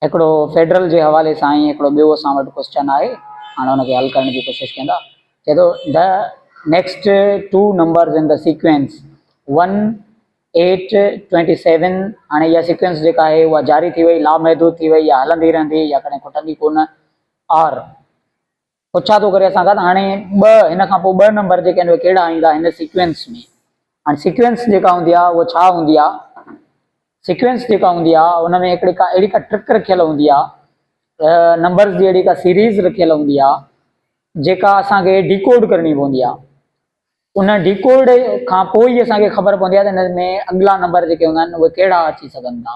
هڪڙو فيڊرل جي حوالي سان ۽ هڪڙو ٻيو اسان وٽ ڪوسچن آهي هاڻي ان کي حل ڪرڻ جي ڪوشش ڪندا چئي ٿو the next two numbers in the sequence one eight twenty seven هاڻي اها سيڪوينس جيڪا آهي اها جاري ٿي وئي لامحدود ٿي وئي يا هلندي رهندي يا ڪڏهن کٽندي ڪونه آر پڇا ٿو ڪري اسان کان ته هاڻي ٻه هن کان پوء ٻه نمبر جيڪي آهن اهي ڪهڙا ايندا هن سيڪوينس ۾ هاڻي سيڪوينس جيڪا هوندي آهي اهو ڇا هوندي آهي سيڪوينس جيڪا هوندي آهي ان ۾ هڪڙي ڪا اهڙي ڪا ٽرڪ رکيل هوندي آهي نمبرز جي اهڙي ڪا سيريز رکيل هوندي آهي جيڪا اسان کي ڊيڪوڊ ڪرڻي پوندي آهي ان ڊيڪوڊ کان پوء ئي اسان کي خبر پوندي آهي ته ان ۾ اڳلا نمبر جيڪي هوندا آهن اهي ڪهڙا اچي سگهن ٿا.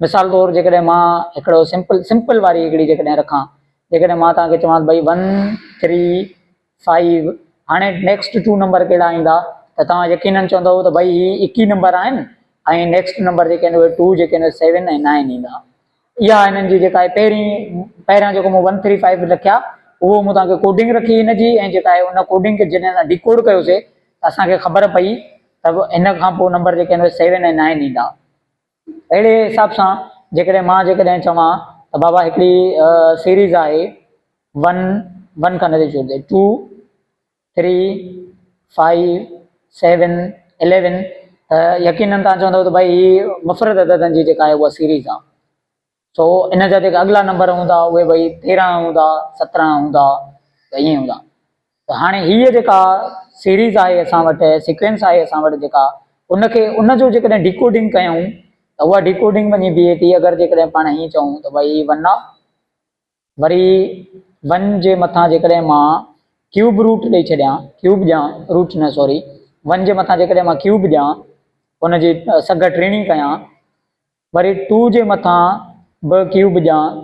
مثال طور جيڪڏهن مان هڪڙو سمپل سمپل واري هڪڙي جيڪڏهن رکان جيڪڏهن مان توهان کي چوان ته ڀئي ون ٿري فائيو هاڻي نيڪسٽ ٽو نمبر ڪهڙا ايندا ته توهان يقينن چوندو ته ڀئي هي ايڪ ئي نمبر آهن ۽ نيڪسٽ نمبر جيڪي آهن اهي ٽو جيڪي آهن سيون ۽ نائن ايندا. اها هنن جي جيڪا آهي پهرين پهريان جيڪو مون ون ٿري فائيو لکيا اهو مون توهان کي ڪوڊنگ رکي هن جي ۽ جيڪا آهي ان ڪوڊنگ کي جڏهن اسان ڊيڪوڊ ڪيوسي ته اسان کي خبر پئي ته هن کان پوء نمبر جيڪي آهن سيون ۽ نائن ايندا اهڙي حساب سان جيڪڏهن مان جيڪڏهن چوان ته بابا هڪڙي سيريز آهي ون ون کان نتي ڇوڙجي two three, five, seven, eleven ته يقينن تان چوندو ته ڀائي هي مفرد عددن جي جيڪا آهي اها سيريز آهي. سو ان جا جيڪا اڳلا نمبر هوندا اهي ڀائي تيرهن هوندا، سترهن هوندا ته ائين هوندا. ته هاڻي هيء جيڪا سيريز آهي اسان وٽ سيڪوينس آهي اسان وٽ جيڪا ان کي ان جو جيڪڏهن ڊيڪوڊنگ ڪيون ته اها ڊيڪوڊنگ وڃي بيهي ٿي اگر جيڪڏهن پاڻ هيئن چئون ته ڀائي هي ون آف وري ون جي مٿان جيڪڏهن مان ڪيوب روٽ ڏئي ڇڏيان، ڪيوب ڏيان، روٽ نه سوري، ون جي مٿان جيڪڏهن مان ڪيوب ڏيان، ان جي سگهه ٽيڻي ڪيان، وري ٽو جي مٿان به ڪيوب ڏيان،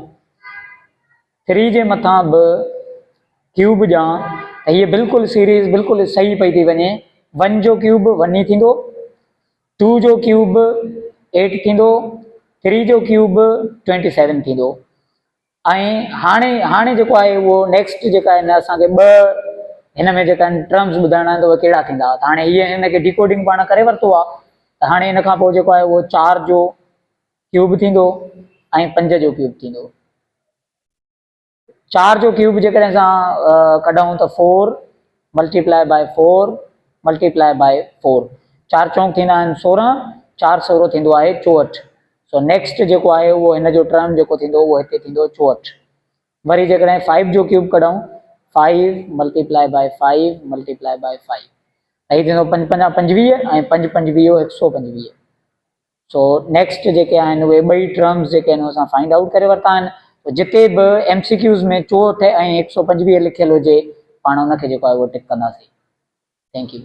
ٿري جي مٿان به ڪيوب ڏيان ته هيء بلڪل سيريز بلڪل صحيح پئي ٿي وڃي، ون جو ڪيوب ون ئي ٿيندو. ٽو جو ڪيوب به ايٽ ٿيندو، ٿري جو ڪيوب به ٽوئنٽي سيون ٿيندو ۽ هاڻي هاڻي جيڪو آهي اهو نيڪسٽ جيڪا آهي نه اسان کي ٻه هن ۾ جيڪا آهن ٽرمز ٻڌائڻا آهن ته اهي ڪهڙا ٿيندا ته هاڻي هيء هن کي ڊيڪوڊنگ پاڻ ڪري ورتو آهي ته هاڻي هن کان پوء جيڪو آهي اهو چار جو ڪيوب ٿيندو ۽ پنج جو ڪيوب ٿيندو چار جو ڪيوب جيڪڏهن اسان ڪڍون ته four multiply by four multiply by four چار چونڪ ٿيندا آهن سورهن چار سورو ٿيندو آهي چوهٺ سو نيڪسٽ جيڪو آهي اهو هن جو ٽرم جيڪو ٿيندو اهو هتي ٿيندو چوهٺ وري جيڪڏهن فائيو جو ڪيوب ڪڍون five multiply by five multiply by five هي ٿيندو پنج پنجا پنجويهه ۽ پنج پنجويهو هڪ سو پنجويهه سو نيڪسٽ جيڪي آهن اهي ٻئي ٽرمز جيڪي آهن اسان فائنڊ آئوٽ ڪري ورتا آهن سو جتي به ايم سي ڪيوز ۾ چوهٺ ۽ هڪ سؤ پنجويهه لکيل هجي پاڻ ان کي جيڪو آهي اهو ٽڪ ڪنداسين ٿينڪ يو